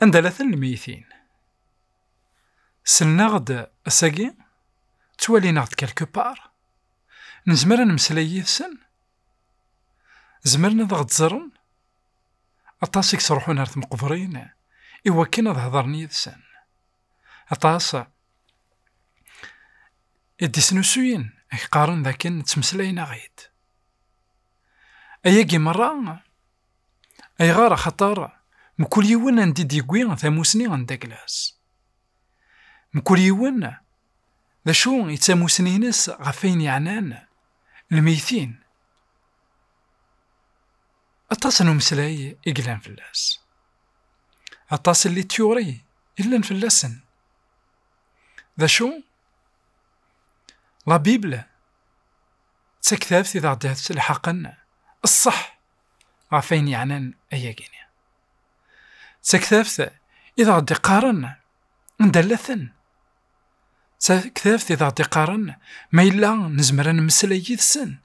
Anda la ten lmeyytin? Selnaɣ-d ass-agi, ttwalinaɣ-d quelque part, nezmer ad nemmeslay yid-sen, zemren ad aɣ-d-ẓren, aṭas i yettruḥun ar tmeqbrin i wakken ad hedren yid-sen. Aṭas i d-isnusuyen ak qqaren d akken ttmeslayen aɣ-id. Ayagi merra, ayɣer axaṭer mkul yiwen anda i d-yewwi tamusni n Daglas. Mkul yiwen d acu i d tamusni-ines ɣef ayen yeɛnan lmeytin. Aṭas n umeslay i yellan fell-as. Aṭas n lityuri i yellan fell-asen. D acu? La Bible d taktabt i aɣ-d-yettelḥaqen ṣṣeḥ ɣef ayen yeɛnan ayagi-nni. D taktabt i aɣ-d-iqqaren anda llaten. D taktabt i aɣ-d-iqqaren ma yella nezmer ad nemmeslay yid-sen.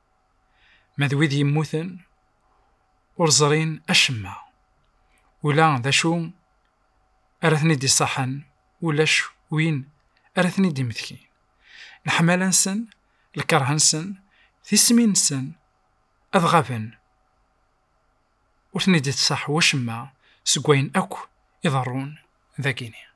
Ma d wid yemmuten, ur ẓrin acemma. Ula d acu ara ten-id-iṣaḥen, ulac win ara ten-id-imetkin. Leḥmala-nsen, lkeṛh-nsen, tismin-nsen, ad ɣaben. Ur ten-id-iṣaḥ wacemma seg wayen akk iḍerrun dagini.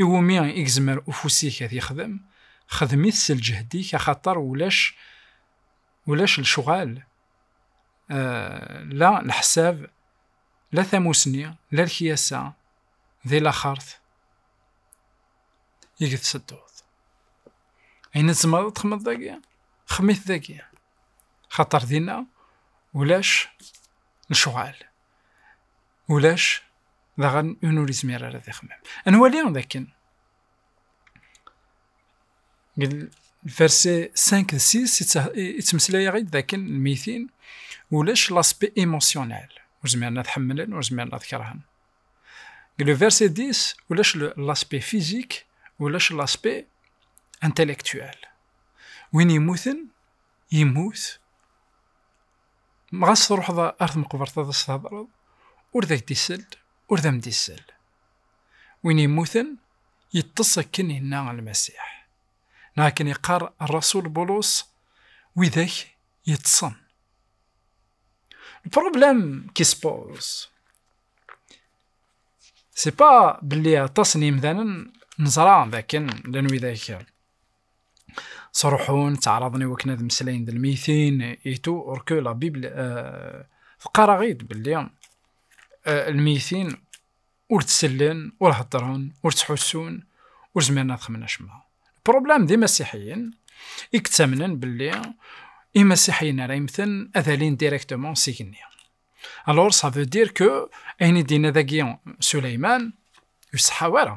I wumi i yezmer ufus-ik ad yexdem, xdem-it s lǧehd-ik axaṭer ulac ulac lecɣal la leḥsab la tamusni la lekyasa di laxert i gtettedduḍ. Ayen tzemreḍ ad txedmeḍ dagi, xdem-it dagi. Xaṭer dinna ulac lecɣal. ulac daɣen un ur izmir ara ad ixemmem. Ad nwali d akken lverse 5 d 6 yettmeslay-aɣ-id d akken lmitin ulac laspi emosyonal ur zmiren ad ḥemmlen ur zmiren ad kerhen. Deg lverse 10 ulac laspi fizik ulac laspi intellectuel. Win yemmuten yemmut Ɣas truḥeḍ ar tmeqbert ad as-thedreḍ, ur d ak-d-isell, ur d am-d-isell. Win yemmuten, yeṭṭes akken yenna Lmasiḥ. Neɣ akken yeqqar rrasul Bulus, Widak yeṭṭsen. Le problème qui se pose, c'est pas belli aṭas n yimdanen neẓra d akken llan widak sruḥun, ttaɛraḍen i wakken ad mmeslayen d lmeytin et tout, or que la Bible teqqar-aɣ-id belli lmeytin ur ttellen, ur heddren, ur ttḥussun, ur zmiren ad xedmen acemma. Problème d imasiḥiyen i yettamnen belli imasiḥiyen ara yemmten ad alin directement s igenni. Alors ça veut dire que ayen i d-yenna dagi Suleyman ur iṣeḥḥa ara.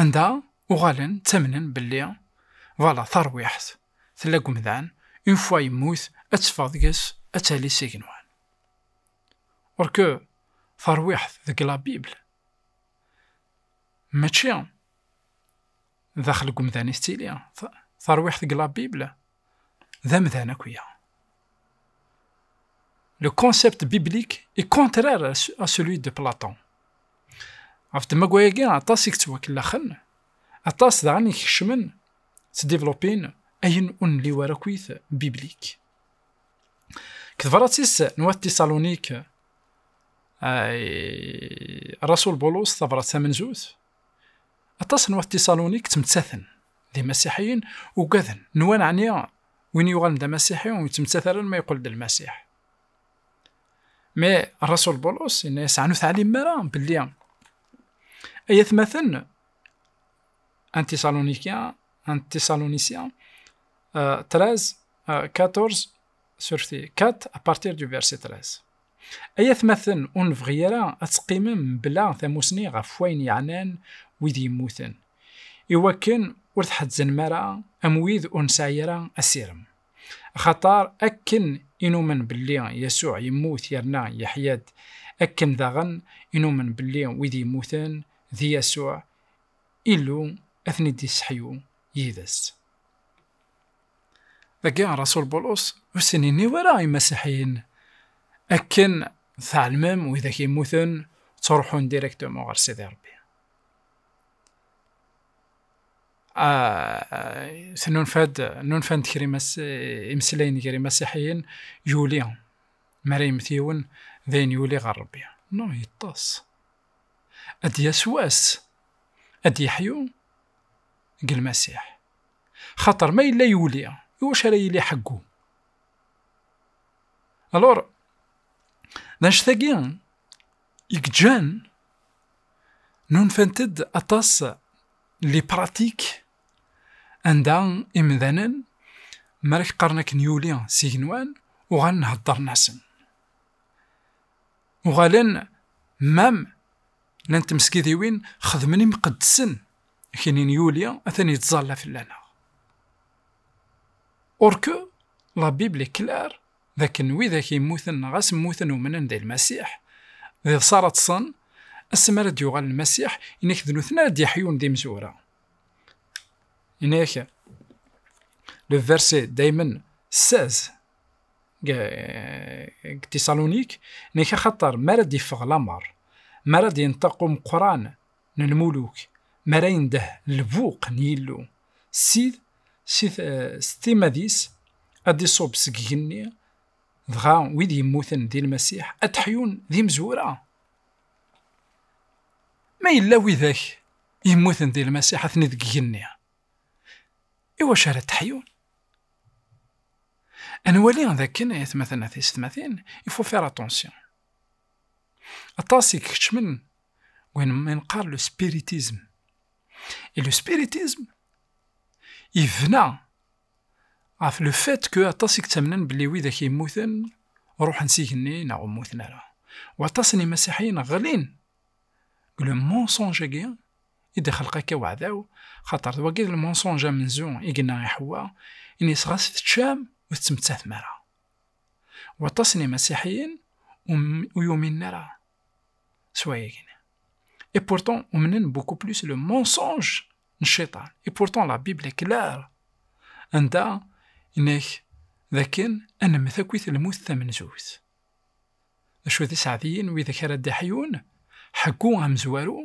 Anda uɣalen ttamnen belli vala tarwiḥt tella deg umdan, une fois yemmut ad teffeɣ deg-s ad tali s igenwan. Or que tarwiḥt deg la Bible mačči daxel deg umdan i tettili, tarwiḥt deg la Bible, d amdan akuya. Le concept biblique est contraire à celui de Platon. Ɣef ddemma-agi, aṭas i yettwakellaxen, aṭas daɣen i ikecmen, ttdivlupin ayen ur nli wara akkit biblik. Deg tebṛat-is n wat Tisalonik, Rasul Bulus tabṛat tamenzut, Aṭas n wat Tiṣalunik ttmettaten d imasiḥiyen, ugaden, nwan ɛni win yuɣalen d amasiḥi ur yettmettat ara ma yeqqel-d lmasiḥ. Mi Rasul Bulus yenna-yas ɛni ur teɛlim ara belli ay atmaten an Tiṣalunikya an Tiṣalunisya 13 14 sur 4 à partir du verset 13 Ay atmaten, ur nebɣi ara ad teqqimem bla tamusni ɣef wayen yeɛnan wid yemmuten, iwakken ur tḥezznem ara am wid ur nesɛi ara asirem. Axaṭer akken i numen belli Yasuɛ yemmut yerna yeḥya-d, akken daɣen i numen belli wid yemmuten, d Yasuɛ, Illu, ad ten-id-yesseḥyu yid-s. Dagi Rasul Bulus ur sen-inni wara i Masiḥiyen akken tɛelmem widak yemmuten ttruḥun directement ɣer Sidi Rebbi. Tnunfa-d nunfant kra imeslayen gar imasiḥiyen yuli mi ara yemmet yiwen d ayen yuli ɣer Rebbi. No, yeṭṭes. Ad d-yas wass ad d-yeḥyu deg Lmasiḥ. Xaṭer ma yella yuli, iwacu ara yili ḥeggu? Alor, d annect-agi i gǧan nunfant-d aṭas li pratik anda imdanen mi ara k-qqaren akken yuli s igenwan uɣalen heddren-asen. Uɣalen mam llan tmesgidiwin xedmen imqeddsen kini n Yuli atan yettẓalla fell-aneɣ. Or que la Bible est claire d akken widak yemmuten neɣ as mmuten umnen di Lmasiḥ, d iḍes ara ṭṭsen, ass mi ara d-yuɣal Lmasiḥ, ini-k d nutni ara d-yeḥyun d imezwura. Ini-k, le verset daymen 16 deg Tisalonique, ini-k axaṭer mi ara d-iffeɣ lamer, mi ara d-yenṭeq umeqqran n lmuluk mi ara yendeh lbuq n Yillu, Ssid, si ttimmad-is, ad d-iṣubb seg igenni, dɣa wid yemmuten di Lmasiḥ ad d-ḥyun d imezwura? Ma yella widak yemmuten di Lmasiḥ atni deg igenni, iwacu ara d-ḥyun? Ad nwali d akken, ay atmaten a tisetmatin, il faut faire attention. Aṭas i ikeččmen win ma nqar le spiritism. Et le spiritism yebna ɣef le fait que aṭas i yettamnen belli widak yemmuten ruḥen s igenni neɣ ur mmuten ara. U aṭas n yimasiḥiyen ɣlin deg le mensonge-agi i d-ixelq akka weɛdaw, xaṭer d wagi le mensonge amenzu i yenna i Ḥewwa, ini-as ɣas teččam ur tettmettatem ara. Waṭas n imasiḥiyen ur yuminen ara s wayagi-nni. Et pourtant, umnen beaucoup plus le mensonge n cciṭan. Et pourtant, la Bible est claire. Anda inek d akken ad nemmet akkit lmut tamenzut. D acu d iseɛdiyen widak ara d-iḥyun, ḥeggu amezwaru,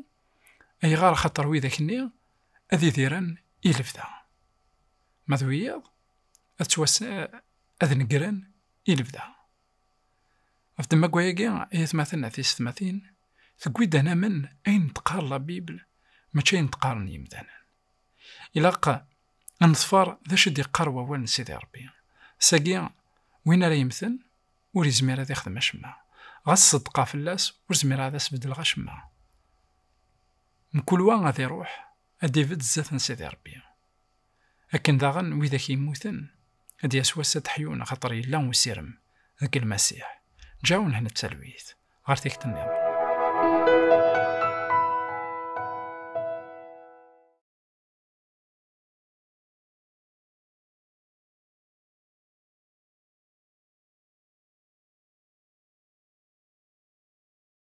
ayɣer axaṭer widak-nni ad idiren i lebda. Ma d wiyaḍ, ad ttwas-, ad negren i lebda. Ɣef ddemma-agi, ay atmaten a tisetmatin, tewwi-d ad namen ayen d-teqqar la Bibel, mačči ayen d-qqaren yimdanen. Ilaq ad neḍfer d acu i d-yeqqar wawal n Sidi Ṛebbi. Sagi, win ara yemmten, ur yezmir ad ixdem acemma. Ɣas ṣeddqeɣ fell-as, ur zmireɣ ad as-beddleɣ acemma. Mkul wa ad iṛuḥ, ad d-ibedd zdat n Sidi Ṛebbi. Akken daɣen widak yemmuten, ad d-yas wass ad d-ḥyun axaṭer yella usirem deg Lmasiḥ. Ǧaɛu nhen d talwit ɣer tikti nniḍen.